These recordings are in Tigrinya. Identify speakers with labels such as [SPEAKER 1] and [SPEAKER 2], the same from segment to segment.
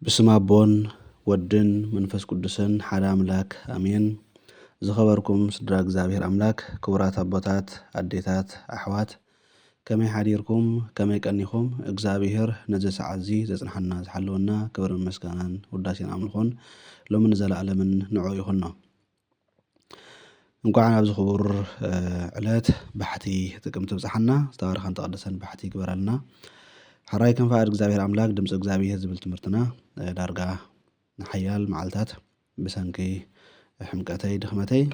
[SPEAKER 1] ብስም ኣቦን ወድን መንፈስ ቅዱስን ሓደ ኣምላክ ኣሜን። ዝኸበርኩም ስድራ እግዚኣብሔር ኣምላክ ክቡራት ኣቦታት ኣዴታት ኣሕዋት ከመይ ሓዲርኩም ከመይ ቀኒኹም እግዚኣብሔር ነዚ ሰዓት እዚ ዘጽንሓና ዝሓለወና ክብርን ምስጋናን ውዳሴን ኣምልኾን ሎምን ንዘለኣለምን ንዑኡ ይኹኖ። እንኳዕ ናብዚ ክቡር ዕለት ባሕቲ ጥቅምቲ ብጽሓና ዝተባረኸን ተቐደሰን ባሕቲ ይግበረልና ሕራይ ከም ፍቓድ እግዚኣብሔር ኣምላክ ድምፂ እግዚኣብሔር ዝብል ትምህርትና ዳርጋ ንሓያል መዓልታት ብሰንኪ ሕምቀተይ ድኽመተይ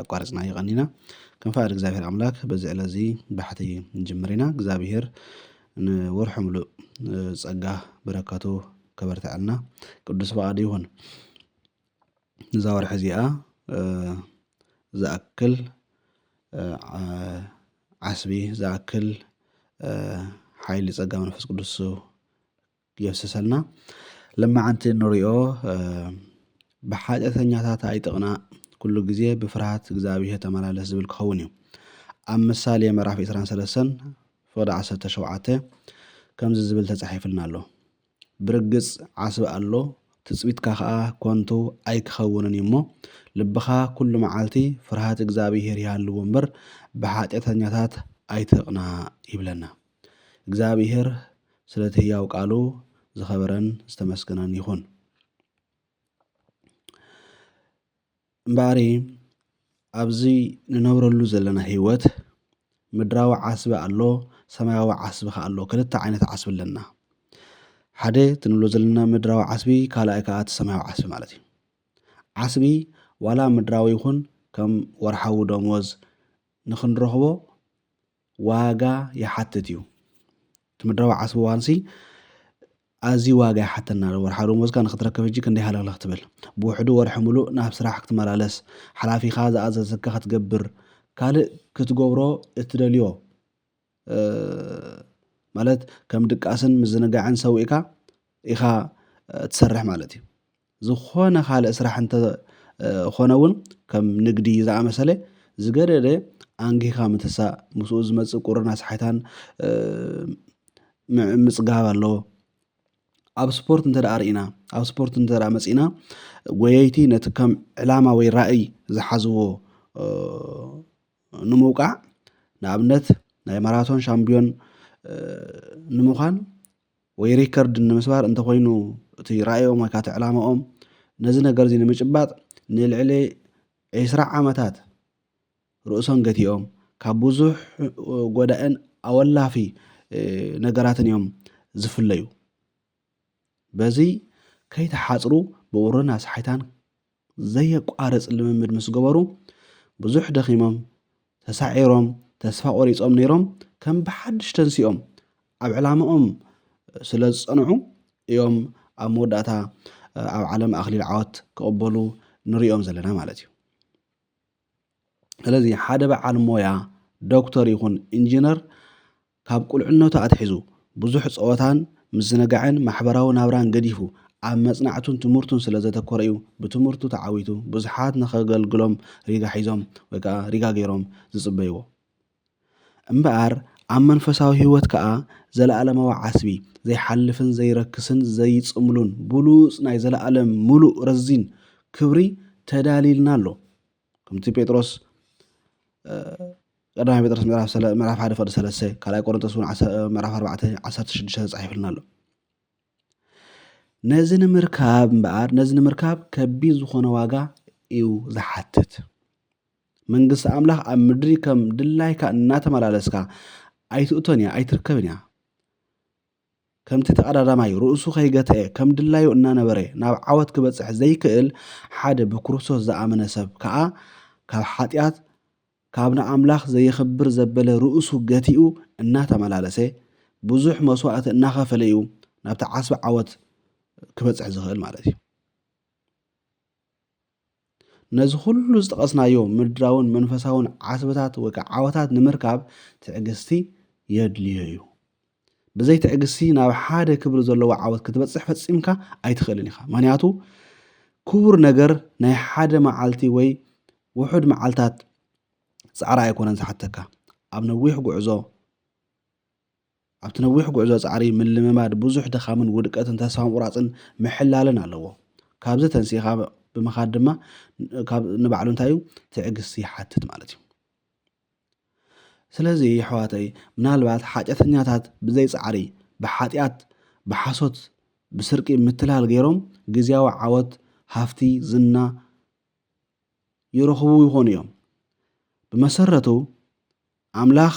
[SPEAKER 1] ኣቋርፅና ይቐኒና ከም ፍቓድ እግዚኣብሔር ኣምላክ በዚ ዕለት እዚ ባሕቲ ንጅምር ኢና እግዚኣብሔር ንወርሑ ምሉእ ጸጋ በረከቱ ከበርትዐልና ቅዱስ ፍቓዱ ይኹን። እዛ ወርሒ እዚኣ ዝኣክል ዓስቢ ዝኣክል ሓይሊ ፀጋ መንፈስ ቅዱስ የፍስሰልና ልማዓንቲ እንሪኦ ብሓጢኣተኛታት ኣይጥቕናዕ ኩሉ ግዜ ብፍርሃት እግዚኣብሄር ተመላለስ ዝብል ክኸውን እዩ ኣብ ምሳሌ ምዕራፍ 23 ፍቕዲ 17 ከምዚ ዝብል ተጻሒፍልና ኣሎ ብርግጽ ዓስቢ ኣሎ፣ ትጽቢትካ ኸኣ ኰንቱ ኣይኪኸውንን እዩ እሞ፣ ልብኻ ኵሉ መዓልቲ ፍርሃት እግዚኣብሄር ይሃልዎ እምበር፣ ብሓጢኣተኛታት ኣይትቕናእ ይብለና። እግዚኣብሄር ስለ እቲ ህያው ቃሉ ዝኸበረን ዝተመስገነን ይኹን። እምበኣሪ ኣብዚ ንነብረሉ ዘለና ህይወት ምድራዊ ዓስቢ ኣሎ፣ ሰማያዊ ዓስቢ ከኣ ኣሎ። ክልተ ዓይነት ዓስቢ ኣለና። ሓደ እቲ ንብሎ ዘለና ምድራዊ ዓስቢ፣ ካልኣይ ከኣ እቲ ሰማያዊ ዓስቢ ማለት እዩ። ዓስቢ ዋላ ምድራዊ ይኹን ከም ወርሓዊ ደሞዝ ንኽንረኽቦ ዋጋ ይሓትት እዩ እቲ ምድራዊ ዓስቢ ዋንሲ ኣዝዩ ዋጋ ይሓተና ኣሎ ወርሓዊ ደሞዝካ ንክትረክብ ሕጂ ክንደይ ሃለኽለኽ ትብል ብውሕዱ ወርሒ ምሉእ ናብ ስራሕ ክትመላለስ ሓላፊኻ ዝኣዘዘካ ክትገብር ካልእ ክትገብሮ እትደልዮ ማለት ከም ድቃስን ምዝንጋዕን ሰዊእካ ኢኻ ትሰርሕ ማለት እዩ ዝኾነ ካልእ ስራሕ እንተ ኾነ እውን ከም ንግዲ ዝኣመሰለ ዝገደደ ኣንጊህካ ምትሳእ፣ ምስኡ ዝመጽእ ቁርን ኣስሓይታን ምጽጋብ ኣለዎ። ኣብ ስፖርት እንተ ደኣ ርኢና ኣብ ስፖርት እንተ ደኣ መጺእና ጎየይቲ ነቲ ከም ዕላማ ወይ ራእይ ዝሓዝዎ ንምውቃዕ ንኣብነት ናይ ማራቶን ሻምብዮን ንምዃን ወይ ሪከርድ ንምስባር እንተኾይኑ እቲ ራእዮም ወይ ካቲ ዕላማኦም ነዚ ነገር እዚ ንምጭባጥ ንልዕሊ ዒስራ ዓመታት ርእሶም ገቲኦም ካብ ብዙሕ ጎዳእን ኣወላፊ ነገራትን እዮም ዝፍለዩ። በዚ ከይተሓጽሩ ብቑርን ኣስሓይታን ዘየቋርጽ ልምምድ ምስ ገበሩ ብዙሕ ደኺሞም፣ ተሳዒሮም፣ ተስፋ ቆሪጾም ነይሮም ከም ብሓድሽ ተንሲኦም ኣብ ዕላማኦም ስለ ዝጸንዑ እዮም ኣብ መወዳእታ ኣብ ዓለም ኣኽሊል ዓወት ክቕበሉ ንሪኦም ዘለና ማለት እዩ። ስለዚ ሓደ በዓል ሞያ ዶክተር ይኹን ኢንጂነር ካብ ቁልዕነቱ ኣትሒዙ ብዙሕ ጸወታን ምዝንጋዕን ማሕበራዊ ናብራን ገዲፉ ኣብ መጽናዕቱን ትምህርቱን ስለ ዘተኮረ'ዩ ብትምህርቱ ተዓዊቱ ብዙሓት ንኸገልግሎም ሪጋ ሒዞም ወይ ከኣ ሪጋ ገይሮም ዝጽበይዎ እምበኣር ኣብ መንፈሳዊ ሕይወት ከኣ ዘለኣለማዊ ዓስቢ ዘይሓልፍን ዘይረክስን ዘይጽምሉን ብሉጽ ናይ ዘለኣለም ምሉእ ረዚን ክብሪ ተዳልይልና ኣሎ። ከምቲ ጴጥሮስ ቀዳማይ ጴጥሮስ ምዕራፍ ሰለ ምዕራፍ ሓደ ፍቅዲ ሰለስተ ካልኣይ ቆሮንቶስ እውን ምዕራፍ ኣርባዕተ ዓሰርተ ሽዱሽተ ተጻሒፉልና ኣሎ ነዚ ንምርካብ እምበኣር ነዚ ንምርካብ ከቢድ ዝኾነ ዋጋ እዩ ዝሓትት መንግስቲ ኣምላኽ ኣብ ምድሪ ከም ድላይካ እናተመላለስካ ኣይትእቶን እያ ኣይትርከብን እያ ከምቲ ተቐዳዳማይ ርእሱ ከይገትኤ ከም ድላዩ እናነበረ ናብ ዓወት ክበጽሕ ዘይክእል፣ ሓደ ብክርስቶስ ዝኣመነ ሰብ ከኣ ካብ ሓጢኣት ካብ ንኣምላኽ ዘየኽብር ዘበለ ርእሱ ገቲኡ እናተመላለሰ ብዙሕ መስዋእቲ እናኸፈለ እዩ ናብቲ ዓስቢ ዓወት ክበጽሕ ዝኽእል ማለት እዩ። ነዚ ኹሉ ዝጠቐስናዮ ምድራውን መንፈሳውን ዓስብታት ወይ ከዓ ዓወታት ንምርካብ ትዕግስቲ የድልዮ እዩ። ብዘይ ትዕግስቲ ናብ ሓደ ክብሪ ዘለዎ ዓወት ክትበጽሕ ፈጺምካ ኣይትኽእልን ኢኻ። ምክንያቱ ክቡር ነገር ናይ ሓደ መዓልቲ ወይ ውሑድ መዓልታት ጻዕሪ ኣይኮነን ዝሓተካ ኣብ ነዊሕ ጉዕዞ ኣብቲ ነዊሕ ጉዕዞ ጻዕሪ ምልምማድ ብዙሕ ድኻምን ውድቀትን ተስፋ ምቑራጽን ምሕላልን ኣለዎ። ካብዚ ተንሲእኻ ብምኻድ ድማ ካብ ንባዕሉ እንታይ እዩ ትዕግስቲ ይሓትት ማለት እዩ። ስለዚ የሕዋተይ ምናልባት ሓጢኣተኛታት ብዘይ ጻዕሪ ብሓጢኣት ብሓሶት ብስርቂ ምትላል ገይሮም ግዝያዊ ዓወት ሃፍቲ ዝና ይረኽቡ ይኾኑ እዮም። ብመሰረቱ ኣምላኽ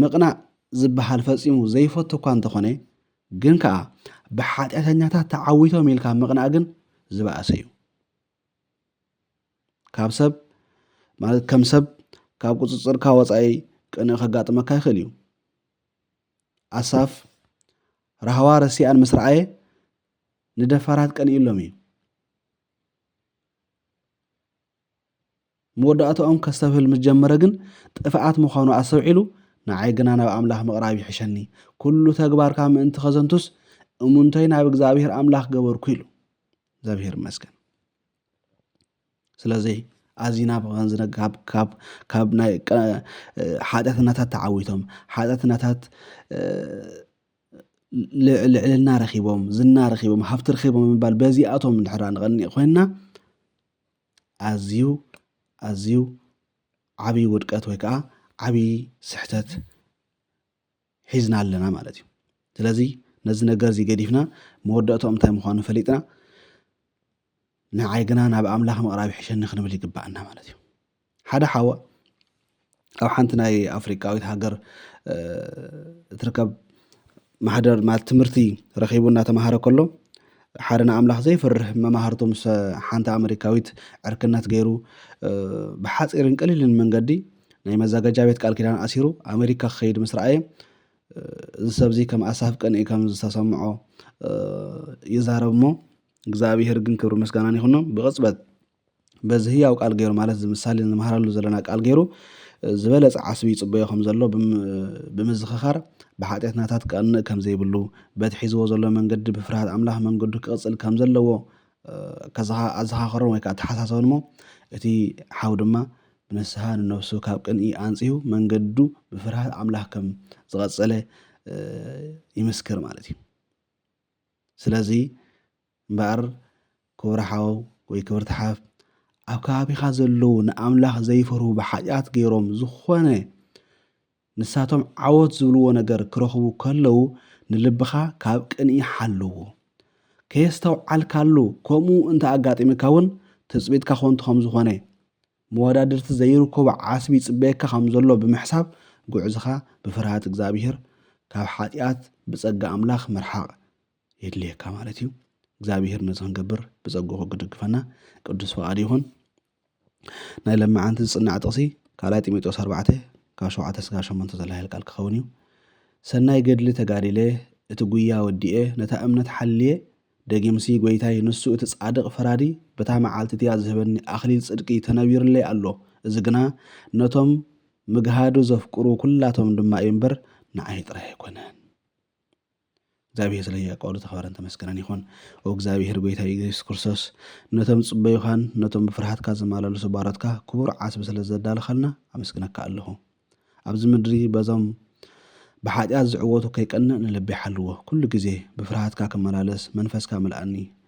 [SPEAKER 1] ምቕናእ ዝበሃል ፈጺሙ ዘይፈቱ እኳ እንተኾነ፣ ግን ከኣ ብሓጢኣተኛታት ተዓዊቶም ኢልካ ምቕናእ ግን ዝበኣሰ እዩ። ካብ ሰብ ማለት ከም ሰብ ካብ ቁጽጽርካ ወጻኢ ቅንእ ከጋጥመካ ይኽእል እዩ። ኣሳፍ ራህዋ ረሲኣን ምስ ረኣየ ንደፋራት ቀንኢሎም እዩ። መወዳእታኦም ከስተብህል ምስ ጀመረ ግን ጥፍኣት ምዃኑ ኣስተውዒሉ፣ ንዓይ ግና ናብ ኣምላኽ ምቕራብ ይሕሸኒ፣ ኵሉ ተግባርካ ምእንቲ ኸዘንቱስ፣ እሙንተይ ናብ እግዚኣብሄር ኣምላኽ ገበርኩ ኢሉ። እግዚኣብሄር ይመስገን። ስለዚ ኣዚና ብኸንዚ ካብ ካብ ካብ ናይ ሓጢኣትናታት ተዓዊቶም ሓጢኣትናታት ልዕልና ረኺቦም ዝና ረኺቦም ሃብቲ ረኺቦም ምባል በዚኣቶም እንድሕር ንቐኒእ ኮይንና ኣዝዩ ኣዝዩ ዓብይ ውድቀት ወይ ከዓ ዓብይ ስሕተት ሒዝና ኣለና ማለት እዩ ስለዚ ነዚ ነገር እዚ ገዲፍና መወዳእትኦም እንታይ ምዃኑ ፈሊጥና ንዓይ ግና ናብ ኣምላኽ ምቕራብ ይሕሸኒ ክንብል ይግባኣና ማለት እዩ ሓደ ሓዋ ኣብ ሓንቲ ናይ ኣፍሪቃዊት ሃገር እትርከብ ማሕደር ማለት ትምህርቲ ረኺቡ እናተምሃረ ከሎ ሓደ ንኣምላኽ ዘይፈርህ መማህርቱ ምስ ሓንቲ ኣመሪካዊት ዕርክነት ገይሩ ብሓፂርን ቀሊልን መንገዲ ናይ መዛገጃ ቤት ቃል ኪዳን ኣሲሩ ኣሜሪካ ክኸይድ ምስ ረኣየ እዚ ሰብ እዚ ከም ኣሳፍ ቅንኢ ከም ዝተሰምዖ ይዛረብ እሞ እግዚኣብሄር ግን ክብሪ ምስጋናን ይኹኖ ብቕፅበት በዚ ህያው ቃል ገይሩ ማለት እዚ ምሳሌ ንምሃረሉ ዘለና ቃል ገይሩ ዝበለጸ ዓስቢ ይጽበዮ ከም ዘሎ ብምዝኽኻር ብሓጢኣትናታት ክቐንእ ከም ዘይብሉ በቲ ሒዝዎ ዘሎ መንገዲ ብፍርሃት ኣምላኽ መንገዱ ክቕጽል ከም ዘለዎ ኣዘኻኸሮም ወይ ከዓ ኣተሓሳሰቦን እሞ እቲ ሓው ድማ ብንስሓ ንነብሱ ካብ ቅንኢ ኣንጺሁ መንገዱ ብፍርሃት ኣምላኽ ከም ዝቐጸለ ይምስክር ማለት እዩ። ስለዚ እምበኣር ክቡር ሓው ወይ ክብርቲ ሓፍ ኣብ ከባቢኻ ዘለዉ ንኣምላኽ ዘይፈርሁ ብሓጢኣት ገይሮም ዝኾነ ንሳቶም ዓወት ዝብልዎ ነገር ክረኽቡ ከለዉ ንልብኻ ካብ ቅንኢ ሓልዎ ከየስተውዓልካሉ ከምኡ እንተ ኣጋጢምካ እውን ትፅቢትካ ኮንቱ ከም ዝኾነ መወዳድርቲ ዘይርከቦ ዓስቢ ይፅበየካ ከም ዘሎ ብምሕሳብ ጉዕዝኻ ብፍርሃት እግዚኣብሄር ካብ ሓጢኣት ብጸጋ ኣምላኽ ምርሓቕ የድልየካ ማለት እዩ እግዚኣብሄር ነዚ ክንገብር ብጸግኡ ክድግፈና ቅዱስ ፍቓድ ይኹን ናይ ለመዓንቲ ዝጽናዕ ጥቕሲ ካልኣይ ጢሞቴዎስ ኣርባዕተ ካብ ሸውዓተ ስጋብ ሸሞንተ ዘሎ ሓይል ቃል ክኸውን እዩ ሰናይ ገድሊ ተጋዲለ እቲ ጉያ ወዲኤ ነታ እምነት ሓልየ ደጊምሲ ጎይታይ ንሱ እቲ ጻድቕ ፈራዲ በታ መዓልቲ እቲኣ ዝህበኒ ኣኽሊል ጽድቂ ተነቢርለይ ኣሎ እዚ ግና ነቶም ምግሃዱ ዘፍቅሩ ኩላቶም ድማ እዩ እምበር ንዓይ ጥራይ ኣይኮነን እግዚኣብሔር ስለ ህያው ቃሉ ተኸበረን ተመስገነን ይኹን። ኦ እግዚኣብሔር ጎይታይ ኢየሱስ ክርስቶስ ነቶም ዝጽበዩኻን ነቶም ብፍርሃትካ ዝማላለሱ ባሮትካ ክቡር ዓስቢ ስለ ዘዳለኻልና ኣመስግነካ ኣለኹ። ኣብዚ ምድሪ በዞም ብሓጢኣት ዝዕወቱ ከይቀንእ ንልበይ ሓልዎ ኩሉ ግዜ ብፍርሃትካ ክመላለስ መንፈስካ ምልኣኒ